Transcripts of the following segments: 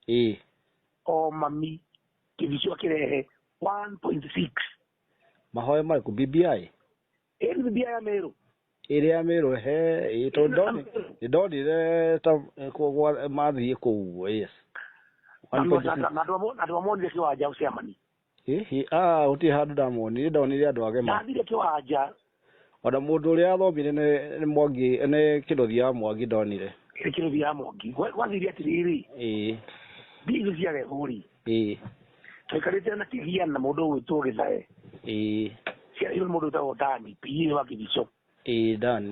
ĩĩ o mami kĩbicio kĩrehe 1.6 mahoya marĩkũ bbi ĩĩ nĩ bibilia ya merũ ĩrĩa ya mĩrũ he ĩĩ tondũ ndoni- nĩ ndonire ta eh, kwa- kwa- mathiĩ kũu yes One point six. andũ amonire kĩwanja ũcemani Ĩ, ĩ, aa, gũtirĩ handũ ndamonire ndonire andũ agema ndathire kĩwanja ona mũndũ ũrĩa athomire nĩ nĩ mwangi nĩ kĩrothi ya mwangi ndonire kĩrũthi ya mongi Gwa- gwathire atĩrĩrĩ ĩĩ mbia icio ciarehwo-rĩ ĩĩ twaikarĩte na kĩgia na mũndũ ũgwĩtwo gĩthae ĩĩ ciarehirwo nĩ mũndũ wĩtagwo dani pie wa kĩbico ĩĩ ndani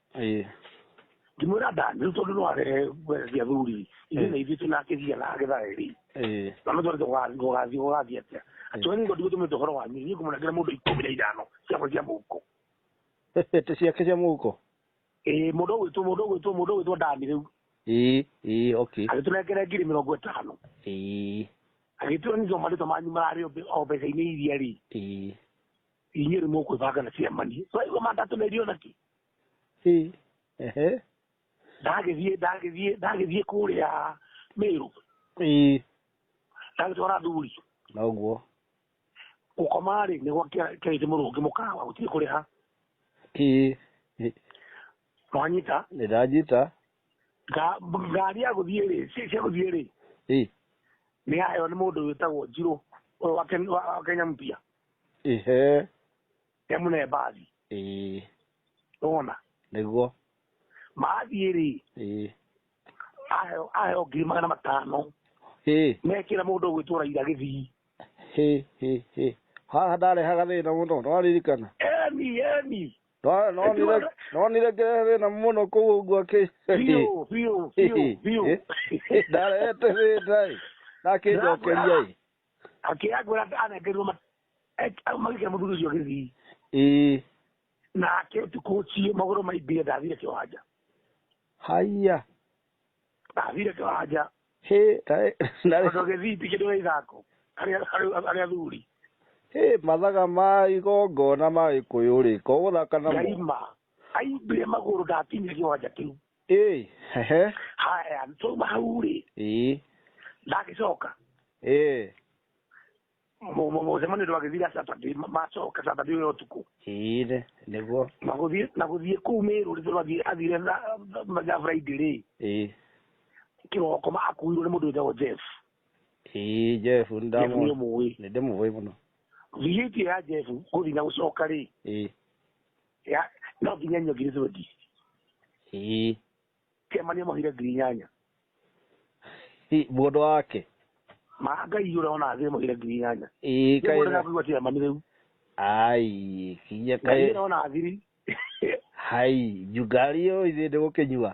ĩĩ ngĩmwĩra ndani rĩu tondũ no arehe gwereria thuri ithuĩ na ithuĩ tũnakĩthia na agetha ĩrĩ ĩĩ na no twarĩte gũgathiĩ gũgathiĩ atĩa atwe nĩ ngũthiĩ gũtũmĩte ũhoro wanyu niĩ ngũmũnengera mũndũ ikũmi na ithano ciakwa cia mũhuko ĩtĩ ciake cia mũhuko ĩĩ mũndũ ũgwĩtwo mũndũ ũgwĩtwo mũndũ ũgwĩtwo ndani rĩu ĩĩ ĩĩ okay agĩtũnengera ngiri mĩrongo ĩtano ĩĩ agĩtua nĩ marĩtwa manyu mararĩ o mbe- o mbeca-inĩ iria rĩ ĩĩ inyuĩ nĩ mũkwĩbanga na ciama niĩ twaigua mandatũ na irio naki Ĩ, ehe ndagĩthiĩ ndagĩthiĩ ndagĩthiĩ kũrĩa mĩrũ Ĩ, ndagĩtwara thuri noguo gũkoma rĩ nĩ gwakĩarĩte mũrũ ũngĩ mũkawa gũtirĩ kũrĩha Ĩ, ĩ, mwanyita nĩ ndanyita Nga- ngari ya gũthiĩ rĩ ci- cia gũthiĩ rĩ Ĩ, nĩ yaheo nĩ mũndũ wĩtagwo njirũ ũyũ wa Ken- wa- wa kenya mpia Ehe. he mũnembathi Ĩĩ. wona Nĩguo. mathiĩ rĩ Ĩĩ. aheo aheo ngiri magana matano Hĩ. mekĩra mũndũ ũgwĩtwo raira gĩthii Hĩ. Hĩ. Hĩ. Haha ndarehaga thĩna mũno. Ndwaririkana. emi emi Ndwa- ndonire- Ndonire ngĩrehe thĩna mũno kũu ũguo akĩ. biũ biũ biũ biũ Ndarehete thĩna ĩ. Nakĩnjokeria ĩ. akĩoya ngwĩra anengerirwo ma- eh, magĩkĩra mũthuri ũcio gĩthii ĩĩ nake ũtukũ ũcio magũrũ maimbire ndathire kĩwanja haiya ndathire kĩwanja hĩ taĩ narĩ tondũ gĩthii ti kĩndũ gĩa ithako harĩ harĩ- harĩ athuri hĩ mathaga ma igongona ma gĩkũyũ rĩ ko gũthaka namo ngaima aimbire magũrũ ndakinyire kĩwanja kĩu ĩĩ ehe haya twauma hau rĩ ĩĩ ndagĩcoka ĩĩ Mu- mu- mũcemanio ndwagĩthira saturday ma- macoka saturday ũyũ ũtukũ ĩĩ nĩ- nĩguo na gũthiĩ na gũthiĩ kũu mĩrũ rĩ tũrathiĩ athire mathaa friday rĩ ĩĩ kĩroko ma akuirwo nĩ mũndũ wĩtagwo jeff ĩĩ jeff jeff nĩ ndamũ ũmũĩ nĩ ndĩmũĩ mũno viĩtio ya jeff gũthiĩ na gũcoka rĩ ĩĩ Ya, no nginya nyua ngiri twendi Ii. kemania mahire ngiri inyanya Ii, mũndũ wake ma ngai yå rä ona thä mahire ngiri inyanya Ii, kaĩ na- kaä tia mani rä u ai kinya ngai kaĩ yå rä ona thiri hai njungari ũyũ ithuĩ ndĩgũkĩnyua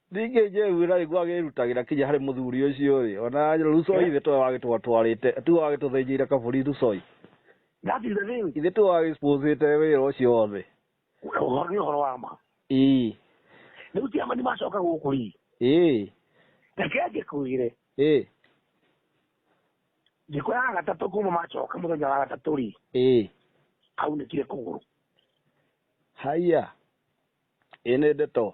Ningĩ Jehu na nĩguo agĩĩrutagĩra kinya harĩ mũthuri ũcio-rĩ, o na Rusoi ithe towe wagĩtwatwarĩte, tiwe wagĩtũthĩnjĩire kabũri Rusoi. That is the thing. Ithe tiwe wagĩsponcĩte wĩra ũcio wothe. Ũhoro nĩ ũhoro wa ma. Ĩĩ. Rĩu ti Amani macoka gũkũ ri. Ĩĩ. Reke ngĩkwĩre. Ĩĩ. Thikũ ya gatatũ kuma macoka mũthenya wa gatatũ ri. Ĩĩ. Aunĩkire kũgũrũ. Haiya. Ĩĩ nĩ ndeto.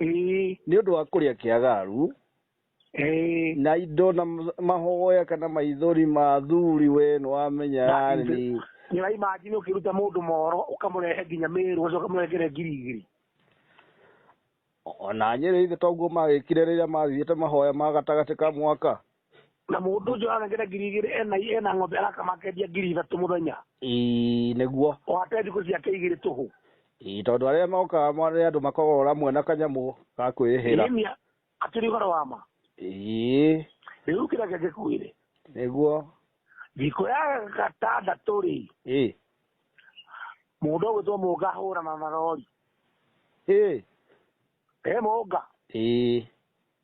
ĩĩ nĩ ũndũ wa kũrĩa kĩagaru ĩĩ na indo na m- mahoya kana maithori ma athuri we nĩwamenya yani nyina imanjini ũkĩruta mũndũ moro ũkamũrehe nginya mĩrũ ũcio ũkamũrengere ngirigiri ona nyĩrĩ ithe toguo magĩkire rĩrĩa mathiĩte mahoya ma gatagatĩ ka mwaka na mũndũ ũcio ararengera ngiri igĩrĩ ena ena ng'ombe arakama akendia ngiri ithatũ mũthenya ii nĩguo ohate thikũ ciake igĩrĩ tũhũ ii tondũ arĩa mokaga marĩ andũ makoragwo ũramwe na kanyamũ ga kwĩhĩra Ĩmĩa, akĩrĩ ũhoro wa ma ii rĩu kĩrĩa kĩngĩ kwĩrĩ nĩguo thikũ ya gatandatũ rĩ ii mũndũ ũgwĩtwo mũnga ahũrana na rori ii e mũnga ii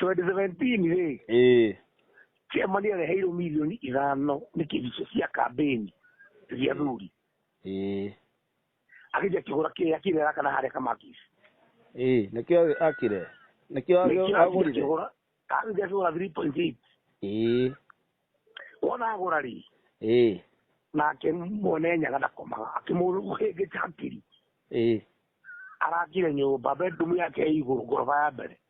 2017 rĩ ĩĩ kĩama nĩ areheirwo milioni ithano nĩ kĩhicio cia kambĩni cia thuri ĩĩ agĩthiĩ akĩgũra kĩrĩa kĩrĩa arakana harĩa kamakisi ĩĩ nĩkĩo akire nĩkĩo agĩ- agũrire agĩthiĩ akĩgũra 3.8 ĩĩ wona agũra rĩ ĩĩ nake mwene nyaga ndakomaga akĩmũhĩngĩca hakiri ĩĩ arakire nyũmba bedroom yake ĩ igũrũ ngoroba ya mbere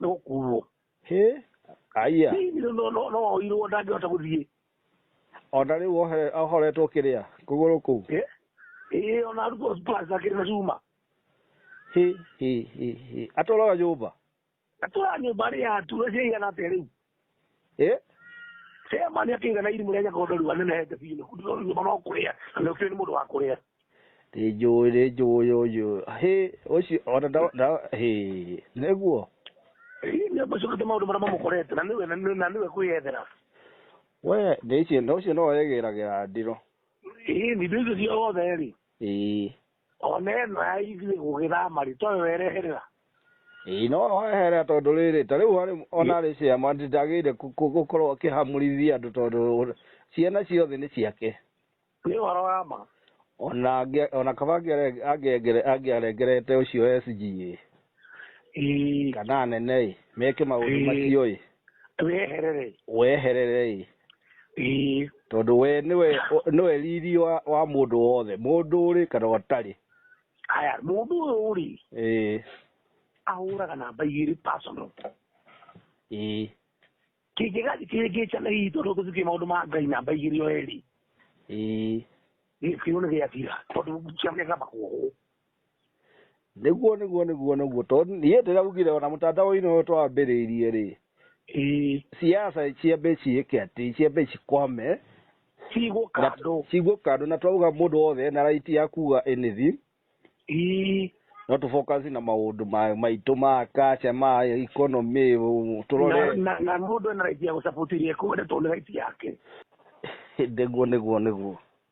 nĩ gũkuo hĩ aiya Hihi no- no- no- no woirwo ndangĩhota gũthiĩ ona rĩu ohere- ahoretwo kĩrĩa kũgũrũ kũu Eh? ĩĩ ona arutwo plus akĩrĩ na cuma hĩ hĩ hĩ hĩ atũraga nyũmba atũra nyũmba rĩ ya ture ciaigana atĩa rĩu ĩ Tema nĩ akĩire na irimũ rĩa nyakondo riu anene hete biũ kũu ndĩrona nyũmba no kũrĩa na nĩ ũkĩũĩ nĩ mũndũ wa kũrĩa nĩ njũĩ nĩ njũĩ ũyũ hĩ ũcio ona nda- nda- hĩ nĩguo Ĩ, nĩ acokete maũndũ marĩa mamũkorete na nĩwe na nĩ- na nĩwe kwĩyethera we nĩ icio na ũcio no egĩragĩra ndiro ĩ nĩ indo icio ciothe rĩ ĩĩ Ona ĩno ya ithuĩ gũgĩthama rĩ toyo wereherera. Ĩĩ no weherera tondũ rĩrĩ ta rĩu harĩ ona arĩ ciama ndagĩrĩire kũ- kũ- gũkorwo akĩhamũrithia andũ tondũ ciana ciothe nĩ ciake. Nĩ ũhoro wa ma. Ona angĩ- ona kaba angĩare- angĩengere- angĩarengerete ũcio SG ĩ. Ĩĩ, kana anene-ĩ meke maũndũ Ĩĩ. macio-ĩ weherere weherere-ĩ Ĩĩ, tondũ we nĩwe nĩwe riri wa, wa mũndũ wothe mũndũ ũrĩ kana ũtarĩ haya mũndũ ũyũ rĩ ĩĩ ahũraga namba igĩrĩ personal ĩĩ kĩngĩgathi kĩngĩcana hihi tondũ gũthiĩ maũndũ ma ngai namba igĩrĩ o erĩ ĩĩ gĩkĩo nĩ gĩathira tondũ ciamĩaka makuohwo nĩguo nĩguo nĩguo nĩguo tondũ niĩ ndĩraugire ona mũtandaũinĩ ũyũ twambĩrĩirie rĩ Ĩĩ, siasa ciambe ciĩke atĩ ciambe cikwame cigwo kando cigwo kando na twauga mũndũ wothe ena right ya kuga anything Ĩĩ, no tũbokasi na maũndũ ma- maitũ ma kaca ma economy ũ- na- tũrore na- na mũndũ ena right ya gũcabutĩria ĩkuo nĩ tondũ nĩ right yake nĩguo nĩguo nĩguo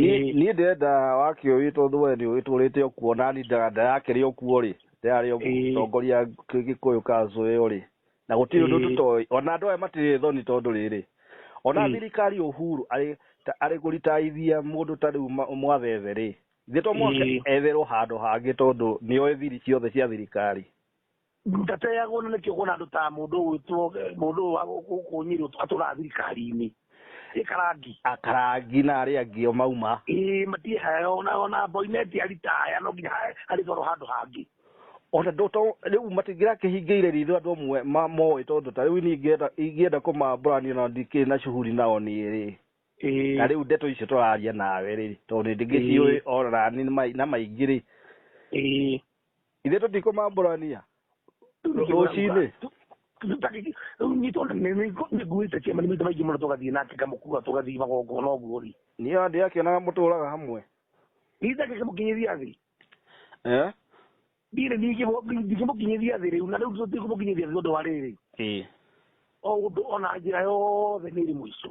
Niĩ niĩ ndĩrenda wakĩũĩ tondũ we nĩ ũgĩtũrĩte ũkuo na ni nda- ndarakĩrĩ ũkuo rĩ ndarĩ Ĩĩ. ũtongoria gĩkũyũ kanzũ ĩyo rĩ na gũtirĩ ũndũ Ĩĩ. tũtoĩ ona andũ aya matirĩ thoni tondũ rĩrĩ ona Ĩĩ. thirikari ũhuru arĩ ta- arĩ kũritaithia mũndũ ta rĩu ma- mwaveve rĩ githĩ to mũhaka Ĩĩ. etherwo handũ hangĩ tondũ nĩoĩ thiri ciothe cia thirikari Ndateagwo na nĩkĩo kuona andũ ta mũndũ ũgwĩtwo mũndũ ũyũ wa gũkũ gũkũ Nyĩrĩ ũtũ- atũraga thirikari-inĩ ĩ karangi akarangi na arĩa angĩ o mauma ĩ matiehaya ona ona mboineti aritaya no nginya ha- arĩtwarwo handũ hangĩ ona ndũ to rĩu matingĩrakĩhingĩire ritho andũ amwe ma- moĩ tondũ ta rĩu niĩ ingĩenda- ingĩenda kũmambũrania na ndikĩrĩ na shughuli nao niĩ rĩ Ĩ, na rĩu ndeto icio tũraria nawe rĩ tondũ nĩ ndingĩciũĩ ona nĩ mai- na maingĩ rĩ ĩ ithe tũtikũ mambũrania rũcinĩ nĩnguĩte kĩama nĩ maita maingĩ mũno tũgathiĩ nake ngamũkua tũgathiĩ magongona ũguo rĩ niĩ andĩ akĩonaga mũtũraga hamwe nitha ngĩkĩmũkinyĩria thĩ eh ndirĩ ndingĩmũkinyĩria thĩ rĩu na rĩu tũtikũmũkinyĩria thĩ tondũ wa rĩrĩ ĩĩ o ũndũ ona njĩra yothe nĩ ĩrĩ mũico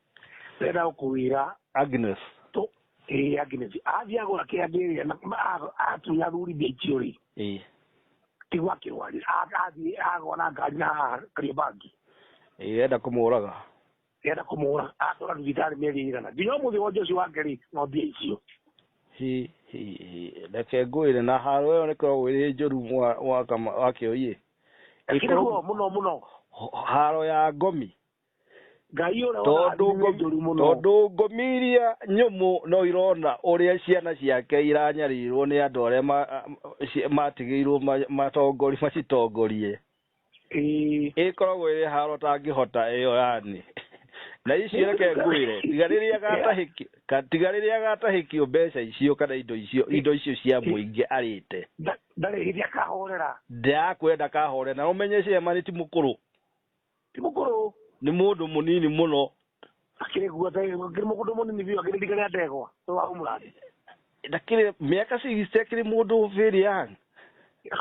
Ndĩrenda gũkũwĩra. Agnes. Tũ, ĩĩ Agnes. Athiĩ agũra kĩrĩa ndĩrĩa na a- atunya ruri ndĩikio rĩ. Ĩĩ. Tigwa akĩrwarĩra. A- Athiĩ agwa na ngari na karia bangi. Ĩĩ enda kũmũraga. Ndĩrenda kũmũra. Atwara thibitarĩ mĩeri ĩigana. Nginya ũmũthĩ wonje ũcio wake rĩ, no mbia icio. Hi hi hi. Reke ngwĩre na haro ĩyo nĩ koragwo ĩrĩ njũru mwa wa kama wa kĩoi. Ĩkĩrĩ ruo mũno mũno. Haro ya ngomi. ngai å rä a tondũ ngũ- må no tondũ ngũmi iria nyũmũ no irona ũrĩa ciana ciake iranyarĩrwo nĩ andũ arĩa ma- a- ci- matigĩirwo ma- matongori macitongorie Ĩĩ. ĩkoragwo ĩrĩ haro tangĩhota ĩyo yani na icio reke ngwĩre tiga rĩrĩa gatahĩkio ka- tiga rĩrĩa gatahĩkio mbeca icio kana indo icio indo icio cia mũingĩ arĩte Nda- ndarĩ hĩndĩ akahorera ndakwenda kahore na ũmenye cema nĩ ti mũkũrũ ti mũkũrũ nĩ mũndũ mũnini mũno akĩrĩ guo akĩrĩ mũkũndũ mũnini biũ akĩrĩ ndika rĩa ndegwa to wa ũmũrathi ndakĩrĩ mĩaka cigiste akĩrĩ mũndũ bĩrĩ yang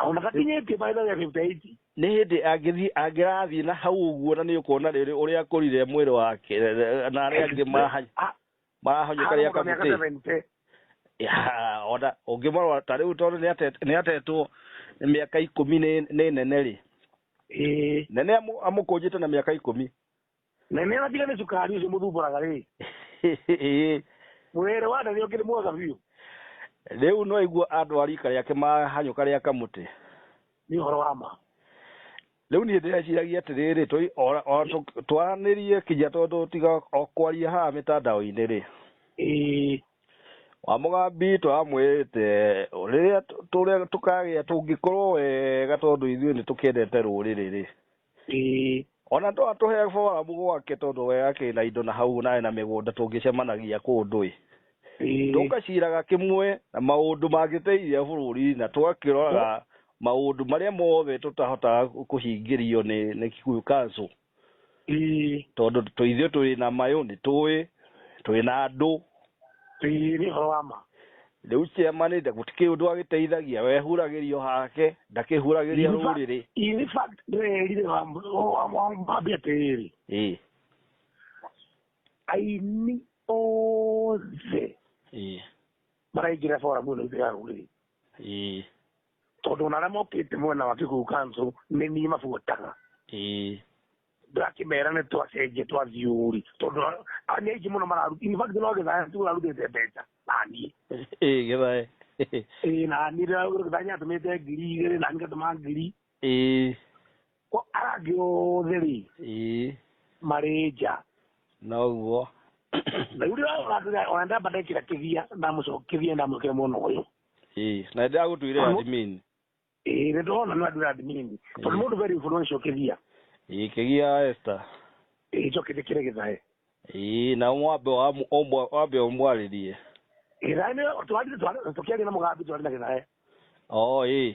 ona gakinyĩtie maitha rĩa fifty eight nĩ hĩndĩ angĩthiĩ angĩrathiĩ na hau ũguo na nĩ ũkuona rĩrĩ ũrĩa akũrire mwĩrĩ wake na arĩa angĩ mahanya A- marahonyo karĩa Hau kamũtĩ mĩaka 70. Ya, ona ũngĩmarora ta rĩu tondũ nĩ ate- nĩ atetwo mĩaka ikũmi nĩ nĩ nene rĩ Ĩĩ. nene amũ- amũkũnjĩte na mĩaka ikũmi na nä atige nä cukari å cio må thumbåraga rä mwä rä wa nene å kä rä mwega biå rĩu no aigua andũ a rika rĩake mahanyũka rĩa kamũtĩ nä å horo wa ma rĩu niĩ ndĩreciragia atĩrĩrĩ tũi- o- o- tũ- twaranĩrie kinya tondũ tiga o kwaria haha mĩtandao-inĩ rĩ ĩĩ wa mũgambi tũramwĩrĩte rĩrĩa tũ- tũrĩa tũkagĩa tũngĩkorwo wega tondũ ithuĩ nĩ tũkĩendete rũrĩrĩ rĩ ĩĩ ona to atũhe foramu gwake tondũ we akĩna indo na hau naĩ na mĩgũnda tũngĩcemanagia kũndũ ĩ Ĩĩ. tũgaciraga kĩmwe na maũndũ mangĩteithia bũrũri na tũgakĩroraga maũndũ marĩa mothe tũtahotaga kũhingĩrio nĩ nĩ Kikuyu Council Ĩĩ. tondũ tũ- ithuĩ tũrĩ na mayũ nĩ tũĩ tũrĩ na andũ Ĩĩ, nĩ ũhoro wa ma rĩu ciama nĩ gũtikĩrĩ ũndũ agĩteithagia wehuragĩrio hake ndakĩhuragĩria In fact- rũrĩrĩ in fact, ndĩrerire wa- wa- wa- wambe atĩrĩrĩ ĩĩ aini othe ĩĩ maraingĩra foramu ĩno itũ ya rũrĩrĩ ĩĩ tondũ ona arĩa mokĩte mwena wa kĩguũ kanso nĩ niĩ mabuataga ĩĩ ndakĩmera nĩ twacenjia twathiĩ ũri tondũ a- nĩ aingĩ mũno mararuta in fact no gĩthaya tu ũrarutĩte mbeca naniĩ ĩĩ gĩthae ĩĩ naniĩ ndĩragũra gĩthaya atũmĩte ngiri igĩrĩ nani ngatũma ngiri ĩĩ Kwa arĩa angĩ othe rĩ ĩĩ marĩ nja noguo na rĩu rĩrĩa ona ndamba ndekĩra kĩthia ndamũcokithia ndamũkĩra mwena ũyũ ĩĩ na ndĩ agũtuire Amo- admin ĩĩ nĩ ndona nĩ andũ admin tondũ Ĩĩ. mũndũ very influential kĩthia ĩĩ kĩgia Esther ĩĩ njokithia kĩrĩa gĩthae ĩĩ na mwambe wa ũmwa- wambe ũmwarĩrie gĩthae nĩ twarire twarire- tũkĩaria na mũgambi twarĩ na gĩthae oo ĩĩ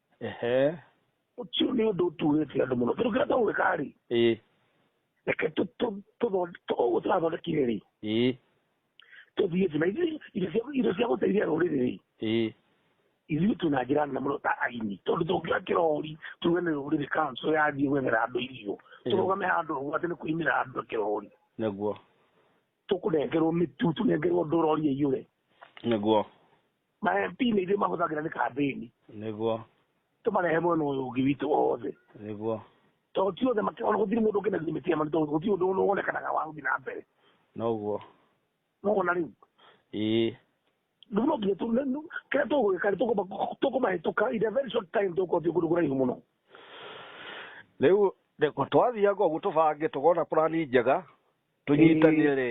Ehe. ũcio nĩ ũndũ ũtuurĩtie andũ mũno tondũ kĩrĩa twagwĩka rĩ Ĩĩ. reke tũ- tũ- tũthonde- tũ- ũguo tũrathondekire rĩ Ĩĩ. tũthiĩ thĩ na ithuĩ indo cia- indo cia gũteithia rũrĩrĩ rĩ Ĩĩ. ithuĩ twĩ na njĩra nene mũno ta aini tondũ tũngĩoya kĩrori tuge nĩ rũrĩrĩ kanso yathiĩ gwethera andũ irio Ĩĩ. tũrũgame handũ ũguo atĩ nĩ kũimĩra andũ na kĩrori Nĩguo. tũkũnengerwo mĩtu tũnengerwo ndũrori ĩiyũre Nĩguo. ma MP nĩ ithuĩ mahũthagĩra nĩ kambĩni nĩguo tũmarehe mwena ũyũ ũngĩ witũ othe nĩguo tondũ ti othe makĩona gũtirĩ mũndũ ũngĩ na limit ya manito gũtirĩ ũndũ ũyũ wonekanaga wa gũthiĩ na mbere noguo nogona rĩu ĩĩ rĩu no nginya tũ- nĩ- kĩrĩa tũgwĩka nĩ tũkũma- tũkũmahĩtũka in a very short time tũgũkorwo twĩ kũndũ kũraihu mũno rĩu rĩkũ- twathianga ũguo tũbange tũkona purani njega tũnyitanĩre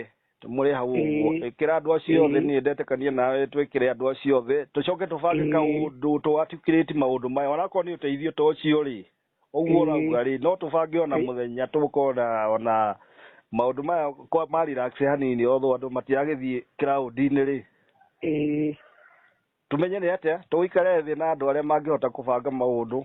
mũrĩ hau ũguo Ĩĩ. ĩkĩra andũ acio othe Ĩĩ. niĩ ndetĩkania nawe twĩkĩre andũ acio othe tũcoke tũbange Ĩĩ. kaũndũ tũatikirĩti maũndũ maya onakorwo nĩ ũteithio ta ũcio rĩ ũguo Ĩĩ. ũrauga rĩ no tũbange ona Ĩĩ. mũthenya tũkona ona maũndũ maya kwa- ma relax hanini otho andũ matiragĩthiĩ kĩraũndi-inĩ rĩ Ĩĩ. tũmenye nĩ atĩa tũgĩikare thĩ na andũ arĩa mangĩhota kũbanga maũndũ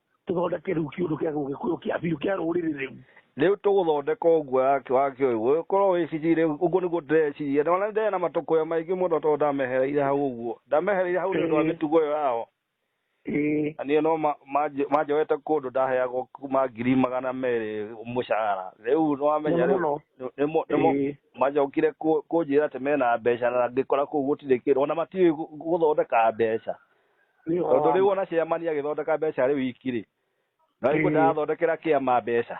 tũthondeke rĩu kĩũndũ kĩa gũgĩkũyũ kĩa biũ kĩa rũrĩrĩ rĩu rĩu tũgũthondeka ũguo yake wa kĩũi gũgĩkorwo wĩcicire ũguo nĩguo ndĩreciria na ona ndĩrĩ na matũkũya maingĩ mũno tondũ ndamehereire hau ũguo ndamehereire hau nĩ ũndũ wa mĩtugo ĩyo yao ĩĩ na niĩ no ma- manjĩ- manjoete kũndũ ndaheagwo kuma ngiri magana merĩ mũcara rĩu nĩwamenya Mũno rĩu mũno. nĩ- nĩmo- nĩmo- Ĩĩ. macokire kũ- kũnjĩra atĩ mena mbeca na ngĩkora kũu gũtirĩ kĩndũ ona matiũĩ gũ- gũthondeka mbeca Nĩ ũhoro tondå wa rä u ma. ona ciamani agä thondeka mbeca rä u iki rä na rä u Mm. ndarathondekera kä ama mbeca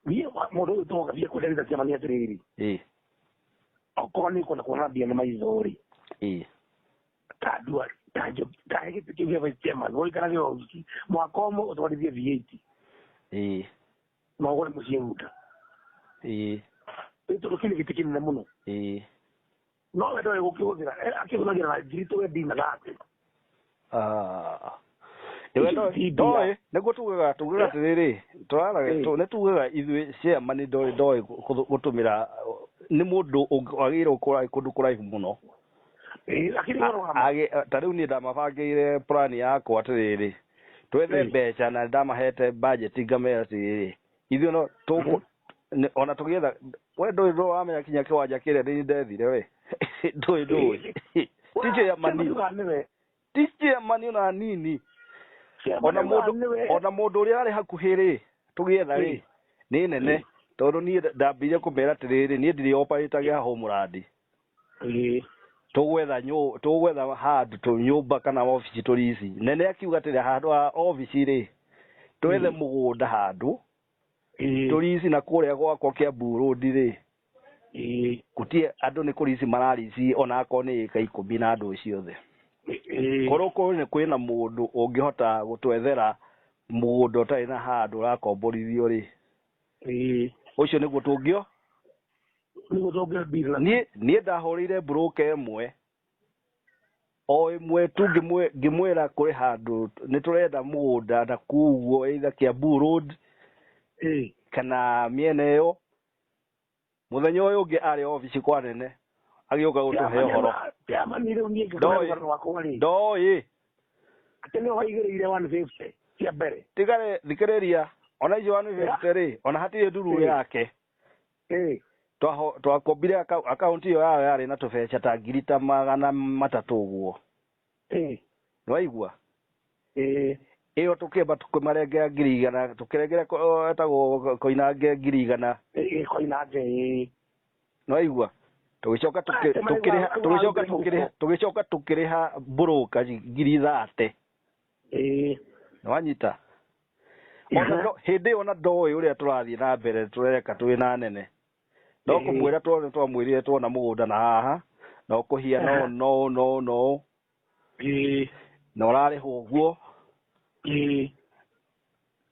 Niĩ wa- mũndũ ũyũ tũgoka biũ kwenderia ciama nĩ atĩrĩrĩ Ĩ, okorwo nĩ kwenda kuona mbia nĩ maitho rĩ ĩ. ta ndua ta njo ta gĩtĩ kĩu gĩa vice chairman gũikara gĩ wiki mwaka ũmwe ũtwarithie VAT Ĩ, na ũgũre mũciĩ guta ĩ, nĩ tondũ kĩu nĩ gĩtĩ kĩnene mũno ĩ. No we ndoĩ gũkĩhũthĩra Eh, akĩhũthagĩra na njiri tũwe ndinaga atĩ Ah. Nĩwe Ici ndoĩ- ti mbia. ndoĩ nĩguo tugaga tugaga atĩrĩrĩ tũraraga Eh. tũ- nĩ tugaga ithuĩ ciama nĩ ndoĩ ndoĩ gũ- gũtũmĩra nĩ mũndũ ũngĩ- wagĩrĩirwo kũra- kũndũ kũraihu mũno Eh, lakini A- wao hama agĩ- ta rĩu niĩ ndamabangĩire plan yakwa atĩrĩrĩ twethe Eh. mbeca na ndamahete budget ngamera atĩrĩrĩ ithuĩ no tũkũ nĩ- ona tũgĩetha we ndũĩ ndũĩ wamenya kinya kĩwanja kĩrĩa ndĩ ndethire we ndũĩ ndũĩ tichĩ ya manio maniwe tichĩ ya manio na nini ona mũndũ ona mũndũ ũrĩa arĩ hakuhĩ rĩ tũgĩetha rĩ nĩ nene tondũ niĩ ndambire kũmera atĩrĩrĩ niĩ ndirĩ operatage haha ũmũrandi tũgwetha nyũ- tũgwetha handũ tũ nyũmba kana obici tũrici nene akiuga atĩrĩ handũ ha obici rĩ twethe Mm. mũgũnda handũ tũrici na kũrĩa gwakwa kĩa mburũndi rĩ gũtiĩ andũ nĩ kũrici mararici ona akorwo nĩ ĩka ikũmi na andũ ciothe korwo kwĩ- kwĩna mũndũ ũngĩhota gũtwethera mũgũnda ũtarĩ na handũ ũrakomborithio rĩ ĩĩ ũcio nĩguo tũngĩo nĩguo tũngĩo deal na niĩ niĩ ndahũrĩire broker ĩmwe o ĩmwe tu ngĩmwĩ- ngĩmwĩra kũrĩ handũ nĩ tũrenda mũgũnda na kuguo either Kiambu road ĩĩ kana mĩena ĩyo muthenya uyu ungi ari ofici kwa nene agiuka gutuhe uhoro Chairman rĩu niĩ Ndoĩ. ngĩkora rũgano rwakwa rĩ ndoi atĩ nĩ waigĩrĩire 150 cia mbere tigare thikiriria ona icio wanu fifty ri ona hatire nduru Eh. yake Eh, twaho- twakombire aka- akaunti iyo yao yarĩ na tũbeca ta ngiri ta magana matatũ ũguo ĩĩ nĩwaigua ĩĩ ĩyo tũkĩmba tũkĩmarengera ngiri igana tũkĩrengere ko- etagwo koinange ngiri igana ĩĩ koinange ĩĩ nĩwaigua tũgĩcoka tũkĩ- Ate maigua tũkĩrĩha maigua tũgĩcoka mbere tũkĩrĩha huko. tũgĩcoka tũkĩrĩha mbũrũka ngiri thate ĩĩ nĩwanyita Ona Aha. ndo- hĩndĩ ĩyo ona ndoĩ ũrĩa tũrathiĩ na mbere tũreka twĩ na nene no Ĩhĩ. kũmwĩra twothe twamwĩrire twona mũgũnda na haha na ũkũhia no Aha. no no no ĩĩ na ũrarĩhwo ũguo ĩĩ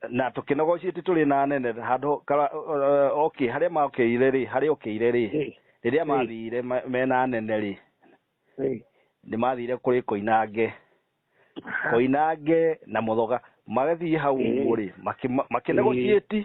na tũkĩnogocie ti tũrĩ na nene handũ kara- eh, okay harĩa makĩire rĩ harĩa ũkĩire rĩ ĩĩ rĩrĩa Ĩĩ. mathire ma- mena nene rĩ ĩĩ nĩ mathire kũrĩ koinange koinange na mũthoga magathiĩ hau Ĩĩ. ũguo rĩ makĩnegotiĩti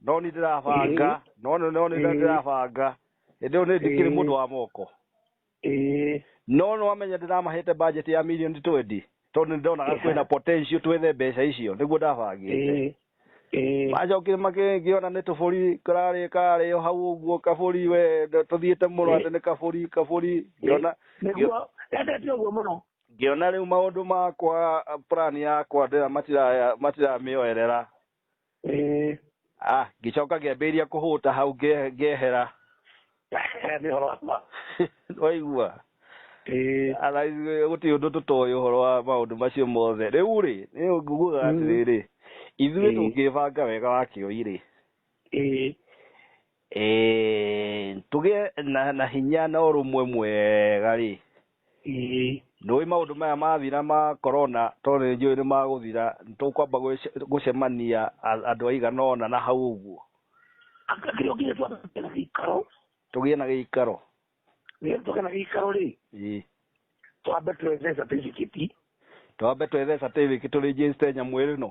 no nĩ ndĩrabanga no nĩ no nĩ Ĩĩ. ndĩrabanga hĩndĩ ĩyo nĩ ndikĩrĩ Ĩĩ. mũndũ wa moko ĩĩ no nĩ wamenya ndĩramahete budget ya mirioni twendi tondũ nĩ ndonaga Ĩha. kwĩna potential twethe mbeca icio nĩguo ndabangĩte ĩĩ ĩĩ macokire makĩona nĩ tũbũri kararĩ karĩ o hau ũguo kabũri we tũthiĩte mũno Ĩĩ. atĩ nĩ kabũri kabũri ngĩona nĩguo endete ũguo mũno ngĩona rĩu maũndũ makwa plan yakwa ndĩra matira matiramĩoerera ĩĩ ah ngĩcoka ngĩambĩrĩria kũhũta hau nge- ngehera nĩ horo wakwa waigua ĩĩ Ala, ithuĩ gũtirĩ ũndũ tũtoĩ ũhoro wa maũndũ macio mothe rĩu rĩ rĩu ngugaga Mm. atĩrĩrĩ ithuĩ Mm. tũngĩbanga wega wa kĩoi rĩ ĩĩ eh, tũgĩe na, na hinya na ũrũmwe mwega rĩ Ĩĩ. Ndũĩ maũndũ maya mathira ma korona tondũ nĩ njũĩ nĩ magũthira, nĩ tũkwamba gũcemania andũ aigana ũna na hau ũguo. Anga kĩrĩa ũkĩrĩ twambe tũgĩe na gĩikaro? Tũgĩe na gĩikaro. Nĩgetha tũgĩe na gĩikaro rĩ. Ĩĩ. Twambe twethe certificate. Twambe twethe certificate tũ register nyamũ ĩno?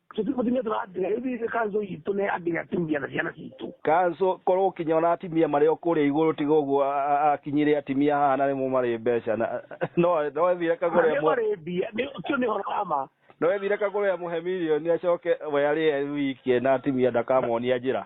Cio ti mũtumia tũratinga rĩu thiĩ kanzo itũ nĩ andĩ atumia na ciana citũ. Kanso korwo ũkinya ona atimia marĩ o kũrĩa igũrũ tiga ũguo a- a- akinyire atimia haha na nĩmo marĩ mbeca na no no ethire kagũre Nĩ amwe marĩ mbia nĩ- ũcio nĩ ũhoro wa ma. no ethire kagũre amũhe milioni acoke we arĩ e wiki na atimia ndakamonia njĩra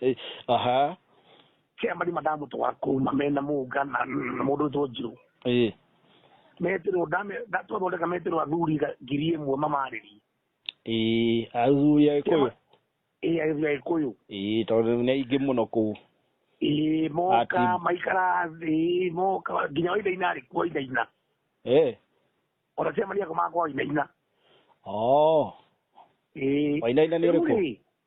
Eh, aha kä marima ndamũtwara kũu na mena mũnga na na mũndũ wĩtwo njirũ Eh, metirwo twathondeka metirwo athuri ga- ngiri ĩmwe mamarĩri eh, athuri agĩkũyũ ĩ agĩthuria gĩkũyũ Eh, tondũ nĩ aingĩ mũno kũu ĩ moka Ati- maikara thĩ moka nginya waithaina arĩ kuo waithaina Eh, ona kä maria kå makwa waithaina oh, ĩ wainaina nĩ ũrĩkũ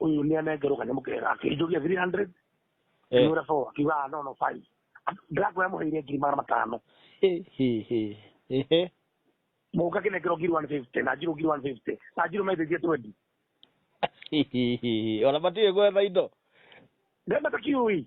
ũyũ nĩ anengerwo kanyamũ kega akĩnjũria 300 Eh. ngĩmwĩra four akiuga "Ah, no no five ndako yamũheire ngiri magana matano Ĩ, hĩ, hĩ. Ĩhĩ. mũka kĩnengerwo ngiri 150 na njirũ ngiri 150 na njirũ maithĩtie 20 Hĩ, hĩ, hĩ, hĩ. ona matiĩ gwetha indo ndemata kiui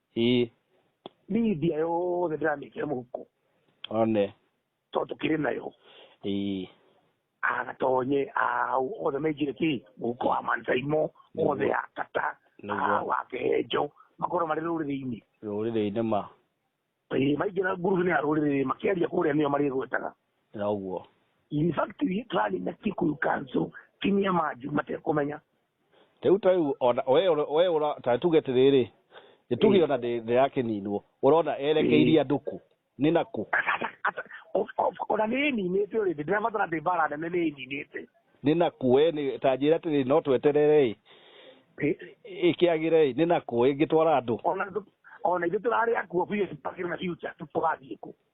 ii niĩ mbia yothe ndĩramĩkĩra mũhuko one tondũ tũkĩrĩ nayo ii agatonye au othe maingĩre kĩ mũhuko wa mansaimo othe ya kata Nĩguo. ah, wa kehenjo makorwo marĩ rũrĩrĩ-inĩ rũrĩrĩ-inĩ ma Ĩĩ, maingĩra ngurubu-inĩ ya rũrĩrĩ makĩaria kũrĩa nĩyo marĩgwetaga noguo in fact tũrarĩ na kikuyu kanso kinyia manju matekũmenya Rĩu ta rĩu ona we ũra- we ũra ta tuge atĩrĩrĩ nĩ tuge Eh. ona ndĩ ndĩ ya kĩninwo ũrona erekeirie andũ kũ nĩ na kũ ona nä ä ninä te å rä ndä ndärabatara ndä mbara nene nä ä ninä te nĩ na kũ we nĩ ta njĩra atĩrĩrĩ no tweterere ĩ ĩkĩagĩre ĩ nĩ na kũ ĩngĩtwara andũ ona ithu- ona ithuä tå rarä akuo biå tå tårathiä kå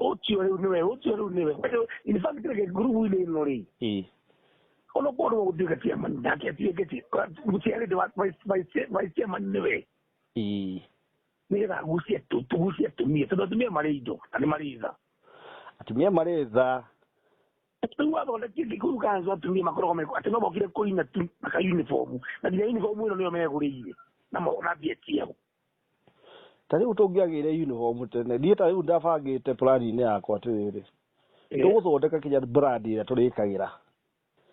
ũcio rĩu nĩwe ũcio rĩu nĩwe in fact reke ngurubu-inĩ ĩno rĩ onokorwo nĩwe gũtuĩka chairman nake atuĩke mũciarĩte wa vice chairman nĩwe nĩgetha agucie tugucie atumia tondũ atumia marĩ indo na nĩ marĩ tha atumia marĩ tha rĩu wathondekire gĩkuru kanzu atumia makoragwo meko atĩ no mokire kũina tu maka uniform na nginya uniform ĩno nĩyo megũrĩire na mona mbia ciao ta rĩu tũngĩagĩire uniform tene niĩ ta rĩu ndabangĩte plani-inĩ yakwa atĩrĩrĩ Eh, tũgũthondeka kinya brand ĩrĩa tũrĩkagĩra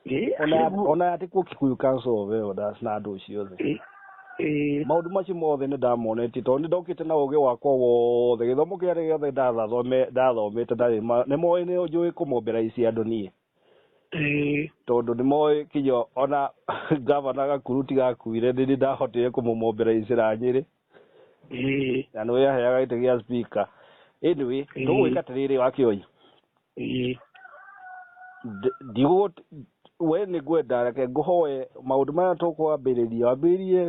eh, ona ya- nĩguo. ona ya tikuo kikuyu council of elders na andũ ciothe Eh, eh, maũndũ macio mothe nĩ ndamonetie tondũ nĩ ndokĩte na ũgĩ wakwa wothe gĩthomo kĩarĩ gĩothe ndathathome- ndathomete ndarĩ ma- nĩ moĩ nĩ njũĩ kũmombera ici andũ niĩ Ĩĩ. tondũ nĩ moĩ kinya ona ngavana gakuru ti gakuire nĩ niĩ ndahotire kũmũmombera icira nyĩrĩ Ĩĩ. na nĩ yaheaga gĩtĩ gĩa spika anyway Ĩĩ. tũgwĩka atĩrĩrĩ wa kĩoi Ĩĩ. Ndi- ndigũ we nĩ ngwenda reke ngũhoe maũndũ maya tũkwambĩrĩria wambĩrĩrie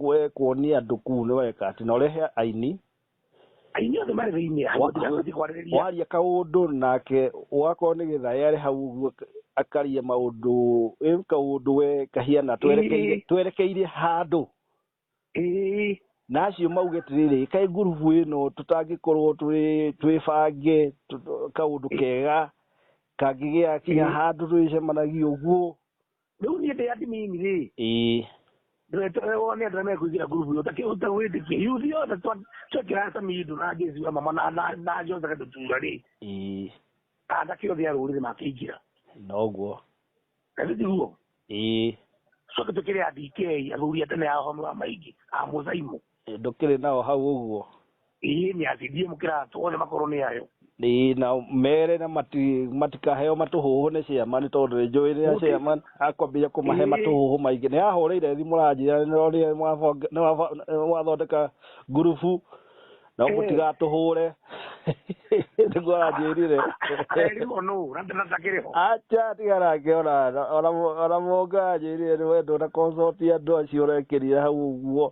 we kuonia andũ kuu nĩ weka atĩ na ũrehe aini inyuothe marĩ thĩinĩ hamuti kwarĩrĩria waria kaundu nake wakorwo nĩ gĩthaĩ arĩ hau ũguo akaria maundu ĩu kaundu we kahiana twerekeire Ĩĩ. twerekeire handũ Ĩĩ. na acio mauge atĩrĩrĩ kaĩ ngurubu ĩno tũtangĩkorwo twĩ- twĩbange tũ- kaũndũ kega kangĩgĩa kinya Ĩĩ. handũ twĩcemanagia ũguo rĩu niĩ ndĩ admin rĩ ĩĩ ndũrete we wone andũ arĩa mekũingĩra ngurubu ĩyo ũtakĩ- ũtagwĩtĩkia yuthi yothe twa- twekĩra hata mindũ na jesi wa mama na- na- na jothe gatutura rĩ ĩĩ anake othe a rũrĩrĩ makĩingĩra noguo na rĩu tiguo ĩĩ coke tũkĩrĩ andikei athuri a tene a ũhome wa maingĩ a mũthaimu Ĩ, ndũkĩrĩ nao hau ũguo ii nĩ acindie mũkĩratũ othe makorwo nĩ ayo Ĩ, na mere na mati- matikaheo matũhũhũ nĩ ciama nĩ tondũ nĩ njũĩ rĩrĩa Gũtirĩ- ciama akwambia kũmahe Ĩ. matũhũhũ maingĩ nĩ ahũrĩire thimũ ranjia nĩronire mwabonge- nĩwaba- mwathondeka ngurubu no Ĩ. mũtigatũhũre nĩguo aranjĩrire arerirwo nũ na ndatakĩrĩ ho acha tiga nake ona ona mũnga anjĩrire nĩ wendwo na konsoti andũ acio ũrekĩrire hau ũguo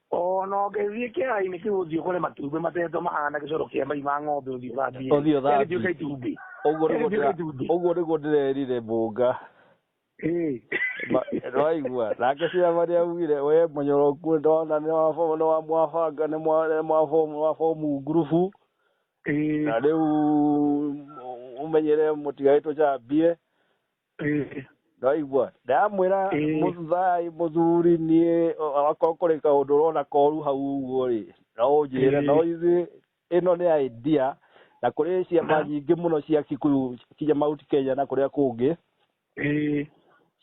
O na ũngĩthiĩ kĩara-inĩ kĩu ũthiĩ ũkore matumbĩ matetwo mahana gĩcoro kĩa mai ma ng'ombe ũthiĩ ũthambie Ũthiĩ ũthambie. Rĩgĩtuĩka itumbĩ ũguo nĩguo Rĩgĩtuĩka ndĩra- itumbĩ. ũguo nĩguo ndĩrerire mbũnga Ĩĩ. Ma- nĩwaigua nake ciama nĩaugire we mũnyoroku ndona nĩ wa baba nĩ wa mwabanga nĩ mwa- nĩ mwa bomu wa bomu ngurubu Ĩĩ. na rĩu ũmenyere mũtigaĩ tũcambie Ĩĩ. ndwaigua ndamwĩra Ĩĩ. mũthai mũthuri niĩ akorwo kũrĩ kaũndũ ũrona koru hau ũguo rĩ no ũnjĩre Ĩĩ. no ithuĩ ĩno nĩ idea na kũrĩ ciama nyingĩ mũno cia kikuyu kinya mount kenya na kũrĩa kũngĩ Ĩĩ.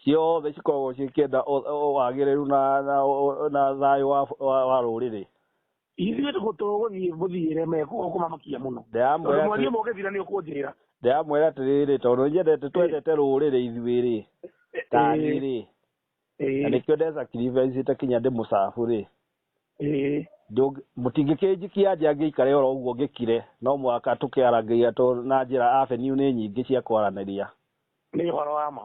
ciothe cikoragwo ciĩkĩenda ũ- ũ- wagĩrĩru na, na, ũ- na thayũ wa, wa, wa rũrĩrĩ ithuĩ tũgũtũgũthiĩ mũthiĩre mekuo kũmamakia mũno Ndĩramwĩra tondũ mwariĩ atĩ- mũgĩthira nĩ ũkũnjĩrĩra ndĩramwĩra atĩrĩrĩ tondũ nĩnyendete twendete rũrĩrĩ ithuĩ-rĩ tani-rĩ na nĩkĩo ndesacrificĩte kinya ndĩ mũcabu-rĩ ĩĩ ndũng- mũtingĩkĩnjikia nja ngĩikare oro ũguo ngĩkire no mũhaka tũkĩarangĩria tondũ na njĩra avenue nĩ nyingĩ cia kwaranĩria nĩ ũhoro wa ma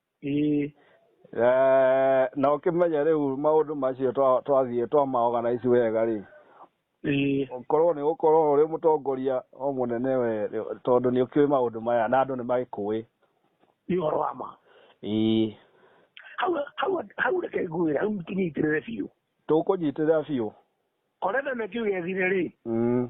Ĩĩ. Eh, na ũkĩmenye rĩu maũndũ macio twa- twathiĩ twamaorganize wega rĩ Ĩĩ. korwo nĩ gũkorwo ũrĩ mũtongoria o mũnene we tondũ nĩ ũkĩũĩ maũndũ maya na andũ nĩ magĩkũĩ Nĩ ũhoro wa ma. ĩĩ Hau hau hau reke ngwĩre hau tũnyitĩrĩre biũ. tũkũnyitĩrĩra biũ Korenda na kiuge thire rĩ. Mm.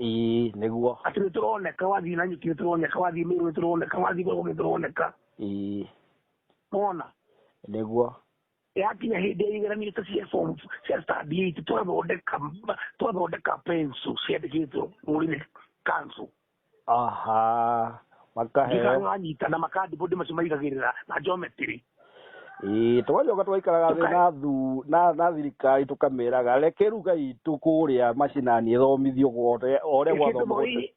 Ĩĩ nĩguo. Atĩ nĩ tũroneka wathiĩ na nyuki nĩ tũroneka wathiĩ mĩrũ nĩ tũroneka wathiĩ gũkũ nĩ tũroneka. Ĩĩ. Mona. Nĩguo. Yakinya hĩndĩ ya igeranio ta cia form cia stand eight twathondeka twathondeka pencil ciandĩkĩtwo mũrĩme kanzu. Aha. Makaheo. Ngĩkanyita na makandibũndi macio maigagĩrĩra na njometiri. Ĩĩ, twacoka twaikaraga thĩ na thu na na thirikari tũkameraga reke ruga itũ kũrĩa macinani ĩthomithio gothe o ũrĩa Kĩndũ gwathoma gothe. mũi-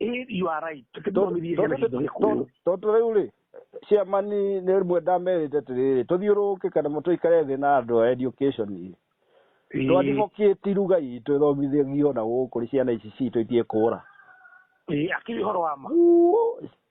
i- you are right. Tũkĩthomithie ciana citũ Gĩkũyũ. tondũ rĩu rĩ ciama nĩ nĩ rĩmwe ndamerĩte atĩrĩrĩ tũthiũrũrũke kana tũikare thĩ na andũ a education Ĩĩ. twandibokĩti ruga itũ ĩthomithagio na gũkũ nĩ ciana ici citũ itiĩkũra Ĩĩ, akĩrĩ ũhoro wa ma.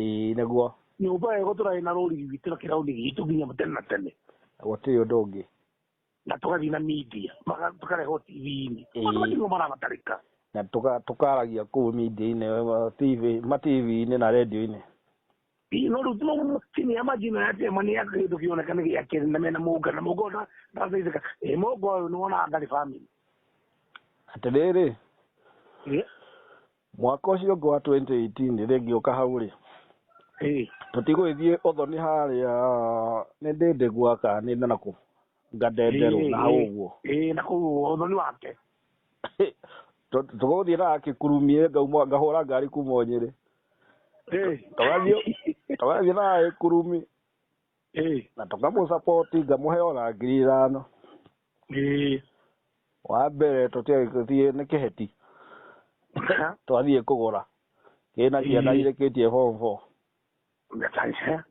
Ĩĩ nĩguo. Nyũmba ĩyo ĩgũtũraĩ na rũrigi witũ na kĩrauni gitũ nginya tene na tene. Gũtirĩ ũndũ ũngĩ. Na tũgathiĩ na media, tũkarehwo TV-inĩ. Maũndũ macio nĩmo marabatarĩka. Na tũkaragia kũu media-inĩ, ma TV-inĩ na radio-inĩ. Ĩĩ no rĩu senior marginal ya Tema nĩ ya kĩndũ kĩoneka nĩ gĩa kerĩ na mena Mũnga, na Mũnga ũyũ ndarateithĩka. Ĩ Mũnga ũyũ nĩwonaga ndarĩ family? Atĩrĩrĩ. Ĩĩ. mwaka ũcio ũngĩ wa 2018 rĩ ngĩũka hau rĩ Ĩĩ. tũtigũgĩthiĩ ũthoni harĩa nĩ ndĩndĩ gwaka nĩ na nakũ ngadenderwo Ĩĩ, na hau ĩĩ. ũguo Ĩĩ, na kũu ũthoni wake Tũ- tũgũthiĩ na kĩkurumie ngauma ngahũra ngari kuma nyĩrĩ Ĩĩ. tũgathiĩ tũgathiĩ na gĩkurumi ĩĩ na tũkamũsapoti ngamũhe ona ngiri ithano ĩĩ wa mbere tũtiagĩthiĩ nĩ kĩheti Aha. twathiĩ kũgũra kĩna ciana Ĩĩ. irĩkĩtie form four Ngatanya.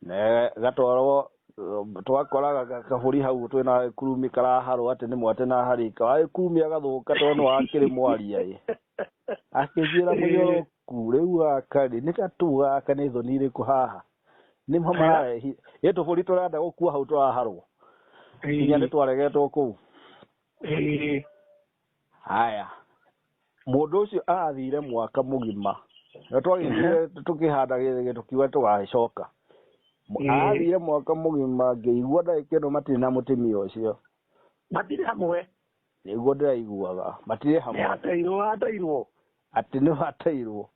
na gatwarwo eh, twakora ga- ga- kabũri hau twĩ na kurumi karaharwo atĩ nĩ mwatĩ na harĩka wagĩkurumia gathũka tondũ nĩ wakĩrĩ mwaria ĩ akĩnjĩra mũnyoro ku rĩu gaka rĩ nĩ gatũ gaka nĩ thoni irĩkũ haha nĩ mo mararehi ĩ tũbũri tũrenda gũkua hau tũraharwo nginya nĩ twaregetwo kũu Ĩĩ. haya mũndũ ũcio athire mwaka mũgima na twagĩthire tũkĩhanda gĩthĩgĩ tũkiuga tũgagĩcoka Mu- Ĩĩ. athire mwaka mũgima ngĩigua ndagĩka ĩno matirĩ na mũtumia ũcio matirĩ hamwe nĩguo ndĩraiguaga matirĩ nĩ hamwe ateirwo ateirwo atĩ nĩ watairwo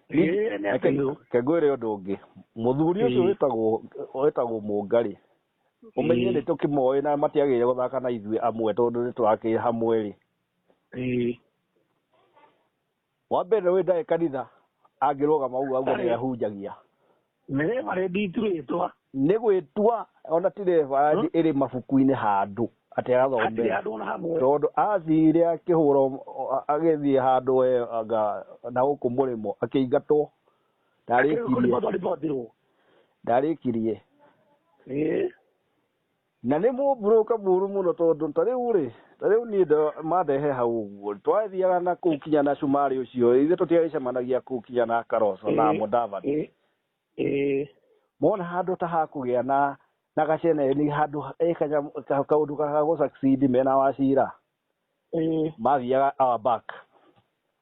Eh, nĩ atairwo. kegwĩre ũndũ ũngĩ mũthuri ũcio Mm. wĩtagwo wĩtagwo mũngarĩ ũmenye Mm. nĩ tũkĩmoĩ na matiagĩrĩire gũthaka na ithuĩ amwe tondũ nĩ tũrakĩrĩ hamwe rĩ Eh, wa mbere wĩ ndarĩ kanitha angĩrũgama ũguo aguo Ndarĩ. nĩ ahunjagia nä marä nditurä twa nĩ gwĩtua ona ti rekondi ĩrĩ mabuku-inĩ handũ atĩ atirä agathomera andå ona hamwe tondũ athire akĩhũra agĩthiä handũ we anga na gũkũ mũrĩmo akĩingatwo ndarĩkirie ndarĩkirie Na nĩ mũburũka mũru mũno tondũ ta rĩu rĩ, ta rĩu niĩ ndo- mandehe hau ũguo rĩ, twathiaga na kũu kinya na cumarĩ ũcio ithe tũtiagĩcemanagia kũu kinya na karoco na mũdavadi Ĩ- ĩ- mona handå ta hakågä na na gacene nä handå ekanya kaå ndå gagagå mena wacira eh mathiaga our back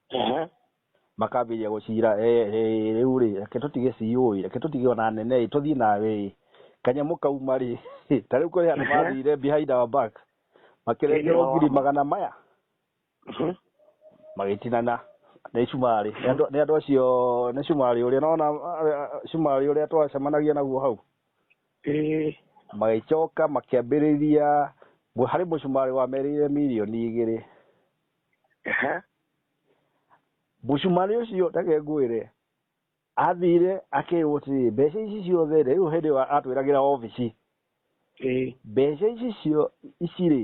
ehe makambĩrĩria gũcira "Eh, eh, rĩu rĩ reke tũtige ciũĩ reke tũtige ona nene ĩ tũthiĩ nawe ĩ kanyamũ kauma rĩ ta rĩu kũrĩ andũ mathire behind our back makĩrengerwo Ĩĩ. ngiri magana maya Mhm. magĩtinana nĩ cumarĩ Nĩ andũ- nĩ andũ acio nĩ cumarĩ ũrĩa nona cumarĩ ũrĩa twacemanagia naguo hau ĩĩ magĩcoka makĩambĩrĩria mu- harĩ mũcumarĩ wa merĩire mirioni igĩrĩ ehe mũcumarĩ ũcio reke ngwĩre athire akĩrwo atĩrĩ mbeca ici ciothe rĩ rĩu hĩndĩ ĩyo atwĩragĩra obici ĩĩ mbeca ici cio ici rĩ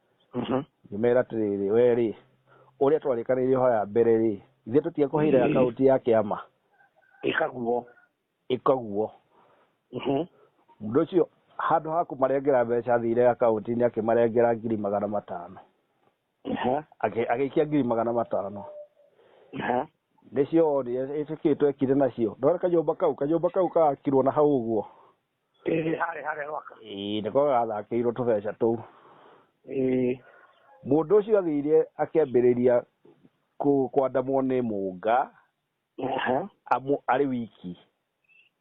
Mhm. ngĩmera atĩrĩrĩ we rĩ ũrĩa twarĩkanĩire ho ya mbere rĩ ithe tũtiakũheire Mm. akaunti ya kĩama ĩkaguo ĩkaguo Mhm. mũndũ ũcio handũ ha kũmarengera mbeca athire akaunti-inĩ akĩmarengera ngiri magana matano Aha. Agĩ- agĩikia ngiri magana matano Aha. nĩcio wonire ĩtĩkĩtwo ekire nacio ndona kanyũmba kau kanyũmba kau kakirwo na hau ũguo ĩĩ harĩ harĩa gwaka ĩĩ nĩko gathakĩirwo tũbeca tũu ĩĩ mũndũ ũcio athire akĩambĩrĩria kũ- kwandamwo nĩ mũnga aha amu arĩ wiki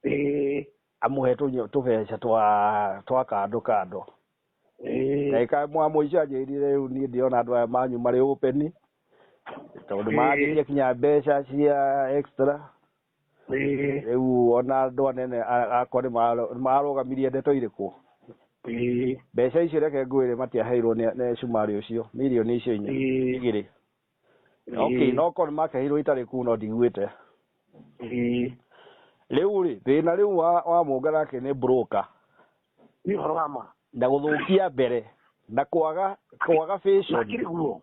ĩĩ amũhe tũnyo- tũbeca twa twa kando kando ĩĩ ndagĩka mwa mũico anjĩrire rĩu niĩ ndĩrona andũ aya manyu marĩ ũpeni tondũ Ĩĩ. maragĩtia kinya mbeca cia extra Ĩĩ, rä u ona andå anene a- akwa nĩ maaro- nĩ maarũgamirie ndeto irä kå ĩĩ, mbeca icio reke ngwä re matiaheirwo nĩ nĩ cumarä å cio mirioni icio inya Ĩĩ. igä rä okay, no korwo nĩ makeheirwo itarä kuu no ndiguä te ĩĩ. rä u rä thä na rä u wa, wa munga nake nä broka Nĩ ũhoro wa ma. na gå thå kia mbere na kwaga kwaga fashion. Makĩrĩ guo.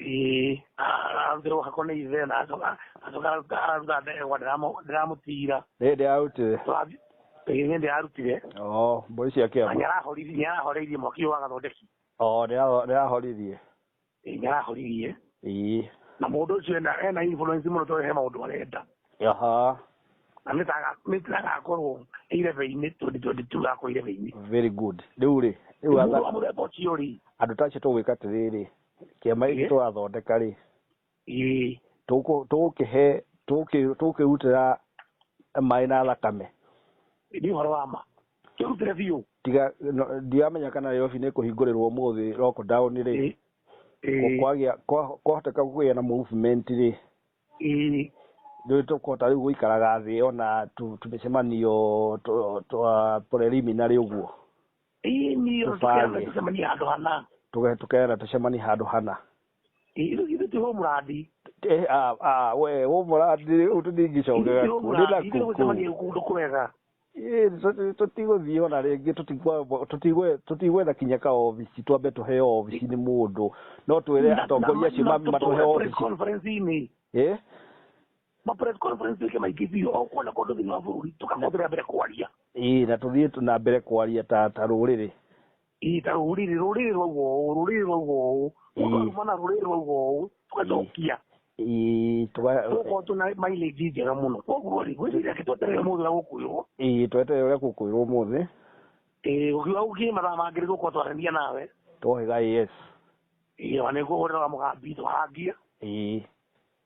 ĩĩ ngĩrũga ko nĩ ithe na acoka acoka aruga ndegwa ndĩramũtira nä hä ndä yarutire hĩndĩ yarutire o mbåri cia kä na nä arahoreirie mwaki ũyũ wa gathondeki o nä arahoririe Ĩĩ, nĩ arahoririe ii na mũndũ ũcio ena ena influence mũno tondũ he maũndũ arenda aha na nĩ taga- nĩ tagakorwo irebe-inĩ 2022 gakorwo irebe-inĩ very good rä u rä rä u mũndũ wa mũthemba ũcio rĩ andå ta acio tå gwä ka atä rä rä kĩama gĩkĩ Ĩĩ. tũrathondeka rĩ ĩĩ tũkũ- tũgũkĩhe tũgũkĩ- tũgũkĩrutĩra maĩ na thakame nĩ ũhoro wa ma tũrutĩre biũ tiga no- ndiramenya kana Nairobi nĩ kũhingũrĩrwo ũmũthĩ lockdown rĩ Ĩĩ. Ĩĩ. kwagĩa kwa- kwahoteka kũgĩa na movement rĩ Ĩĩ. rĩu tũkũhota rĩu gũikaraga thĩ ona tu- tũmĩcemanio twa- twa preliminary ũguo Ii, niĩ Tũbange. tũkĩamba tũcemanie handũ hana Tũge- tũkera tũcemanie handũ hana Ii, ithu- ithu ti hũ mũrandi Eh, ah, ah, we wå må ra ndä tå ndingicokega kå ndä na ithu gũcemania kũkå kũndũ kwega tå tigå thiä ona rä ngä tå tigwetha kinya ka obici twambe tå heo obici nä må ndå no twä re atongoria acio matå he obici conference-inĩ Eh? ma press conference ĩke maikĩbio o kuona kũndũ thĩinĩ wa bũrũri tũkahũthĩra mbere kwaria ĩĩ na tũthiĩ tu- na mbere kwaria ta ta rũrĩrĩ ĩĩ ta rũrĩrĩ rũrĩrĩ rwauga ũũ rũrĩrĩ rwauga ũũ mũndũ Ĩĩ. arumana rũrĩrĩ rwauga ũũ tũgacokia Ĩĩ, tũga- tũgakorwo twĩna mileage njega mũno koguo rĩ gwĩciria ake tweterere mũndũ ũrĩa gũkwĩrwo ĩĩ tweterere ũrĩa gũkwĩrwo ũmũthĩ ĩĩ gũkiuga gũkiĩ mathaa mangĩ rĩgũkorwo twarania nawe twohĩga yes ĩĩ ona nĩguo ũhũrĩra wa mũgambi tũhangie ĩĩ